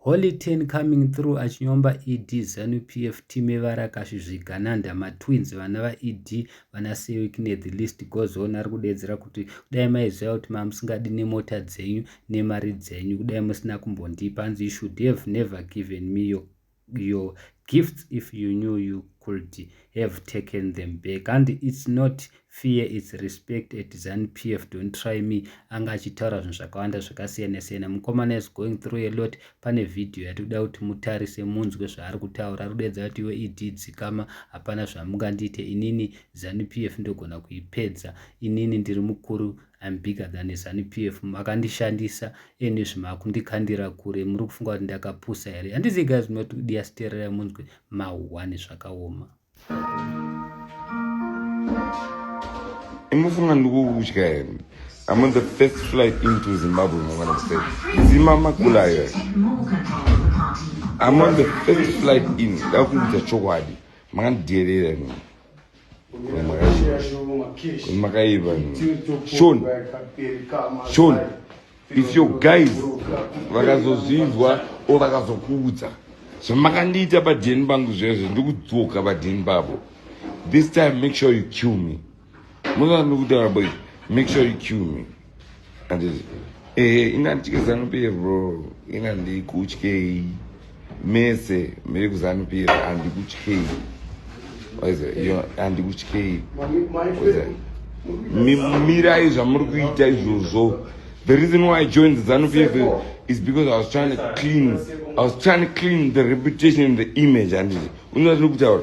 Holy Ten coming through achinyomba ED Zanu PF team evarakasvi zvigananda matwins vana vaED vana Sewikine the list goes on ari kudeedzera kuti kudai maiziva kuti mamusingadi nemota dzenyu nemari dzenyu kudai musina kumbondipa hanzi you should have never given me your your gifts if you knew you could have taken them back and it's not fear it's respect at zanpf don't try me anga achitaura zvinhu zvakawanda zvakasiyana siyana mukomana is going through a lot pane vhidhiyo yati kuda kuti mutarise munzwe zvaari kutaura ari kudaidza kuti iwe ed dzikama hapana zvamungandiite inini zanpf ndogona kuipedza inini ndiri mukuru I'm bigger than a Zanu PF makandishandisa and zvimakundikandira kure muri kufunga kuti ndakapusa here handizi guys munoti diasterera munzwe mahwani zvakaoma imufunga ndikukudya here I'm on the first flight into Zimbabwe mangwana kuseni zima makula here I'm on the first flight in ndakuudza chokwadi makandidherera nini makaiva shon shon if your guys vakazozvinzwa o vakazokuudza zvamakandiita badheni bangu zvezvo ndikudzoka badheni bavo this time make sure you kill me muzanokutaura boy make sure you kill me Eh, ina ndichike zanu pf bro ina ndikutyei mese miri kuzanu pf andikutyei andikutyei mirai zvamuri kuita izvozvo the reason why i joined zanu pf is because i was trying to clean i was trying to clean the reputation and the image handiti unoa tiri kutaura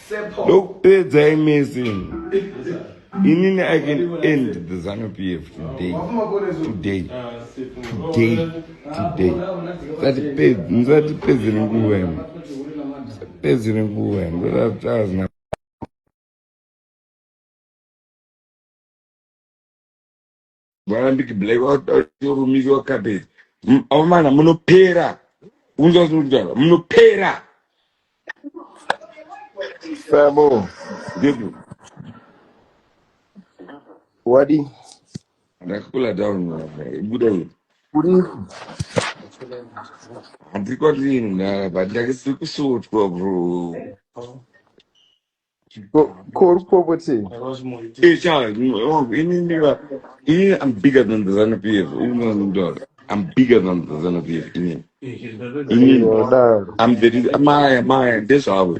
ndokupedza imesing inini i can end the zanu p f today today today today musatipedze nenguva imi musatipedze nenguva imi ndoda kuti azina varambiki black varumikiwa kapeti aumana munopera unzwa zvinokutaura munopera samo ndipo wadi ndakakula down buda uyo kuri handiko ndini ndava ndakisiri kusutwa bro Ko ko uri kupopotei? Hey, Charles, mm, oh, ini ndiva- ini I'm bigger than the Zanu PF. Ini ndinoziva. I'm bigger than the Zanu PF. Ini. Ini. Aiwa daro. I'm the reason. Maya, Maya, ndezvavo.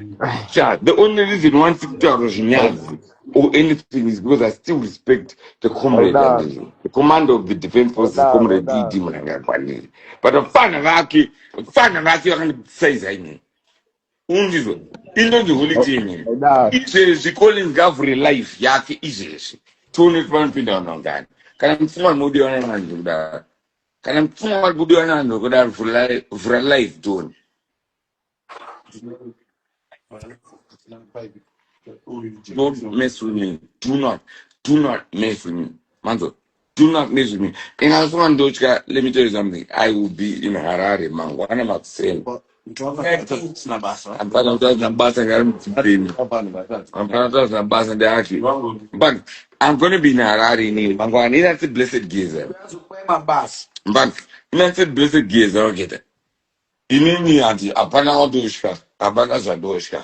Sha, the only reason why ndikutaura zvinyazi or anything is because I still respect the comrade and Haidaro. the, the commander of the defense forces, Haidaro, comrade E.D. haidaro. Mnangagwa. But vafana vake, vafana vake vakandisaiza ini. unzizwa inonzi holiday imene izvezvi collins ngavhure live yake izvezvi tione kuti vanopinda vanhu vangani kana mupfungwa ndinobudiwa navanhu ndokudaro kana mupfungwa ndinobudiwa navanhu ndokudaro vhura live tione don't mess with me do not do not mess with me manzwa do not mess with me and i also want to let me tell you something i will be in harare mangwana makuseni but i'm going to be in harare ini mangwana ini that's a blessed gezer but that's a blessed gezer waketa inini hanti hapana wandosvika hapana zvandosvika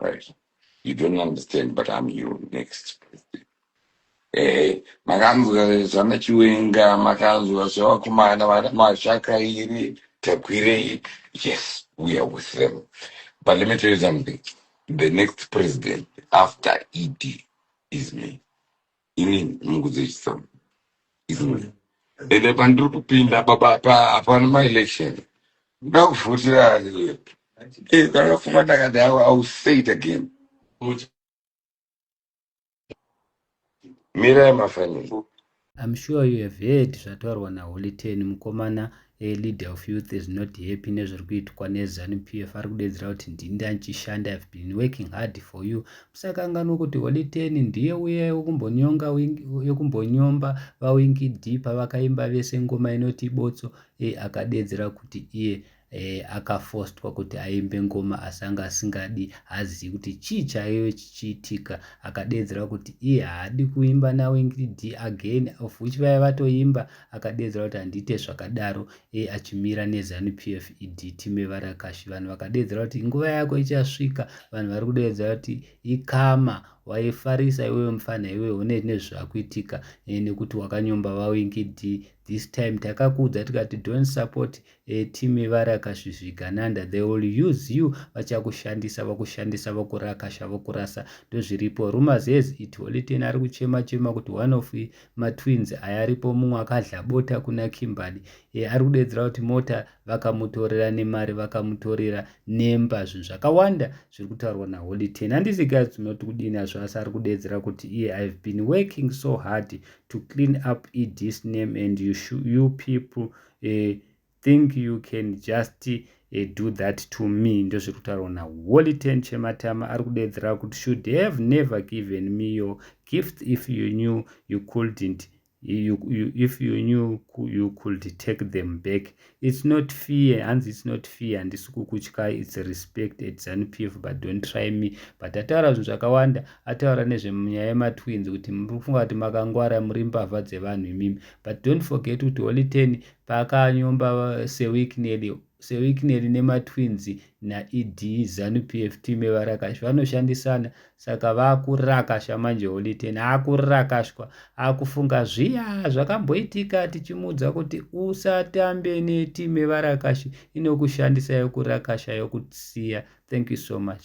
right you don't understand but i'm your next president eh makanzwa zvana chiwenga makanzwa zvevakomana vana mashaka iri takwirei yes we are with them but let me tell you something the next president after ed is me ini mukudzidzisa izvi ende pandiri kupinda baba pa hapana ma election ndakuvhotera eh kana fuma ndakati hawa i will say it again mirai mafaniro I'm sure you have heard zvataurwa naHoly Ten mukomana A leader of youth is not happy nezviri kuitwa neZanu PF ari kudedzera kuti ndini ndanichishanda I've been working hard for you musakanganwa kuti Holy Ten ndiye uya yekumbonyonga yekumbonyomba vaWinky D pavakaimba vese ngoma inoti botso e akadedzera kuti iye e, akafostwa kuti aimbe ngoma asi anga asingadi haazivi kuti chii chaiyo chichiitika akadedzera kuti iye haadi kuimba naWinky D again of which vaya vatoimba akadeedzera kuti handiite zvakadaro e achimira nezanu pf ed time varakashi vanhu vakadeedzera kuti nguva yako ichasvika vanhu vari kudeedzera kuti ikama waifarisa iwewe mufana iwe une nezvakuitika eh, nekuti wakanyomba vawingidi this time takakuudza tikati don't support e team varakasvisviga nanda they will use you vachakushandisa vakushandisa vakurakasha vakurasa ndozviripo rumors has it holy ten ari kuchema chema kuti one of matwins aya aripo mumwe akadla bota kuna kimberly e ari kudedzera kuti mota vakamutorera nemari vakamutorera nemba zvinhu zvakawanda zviri kutaurwa naholy ten handisi guys tinoti kudini azvo asi ari kudedzera kuti iye ihave been working so hard to clean up edis name and you, you people uh, think you can just uh, do that to me ndozviri kutaurwa naholiten chematama ari kudeedzera kuti should have never given me your gift if you knew you couldn't You, you, if you knew you could take them back it's not fear hanzi it's not fear handisi kukutyai it's respect at zanu p f but don't try me but ataura zvinhu zvakawanda ataura nezvenyaya yematwins kuti muri kufunga kuti makangwara muri mbavha dzevanhu imimi but don't forget kuti holy ten paakanyomba uh, sewickneli sewickneli nematwins naed zanu p f t mevarakashi vanoshandisana saka vakurakasha manje holy ten akurakashwa akufunga zviya zvakamboitika tichimuudza kuti usatambe neti mevarakashi inokushandisa yokurakasha yokusiya thank you so much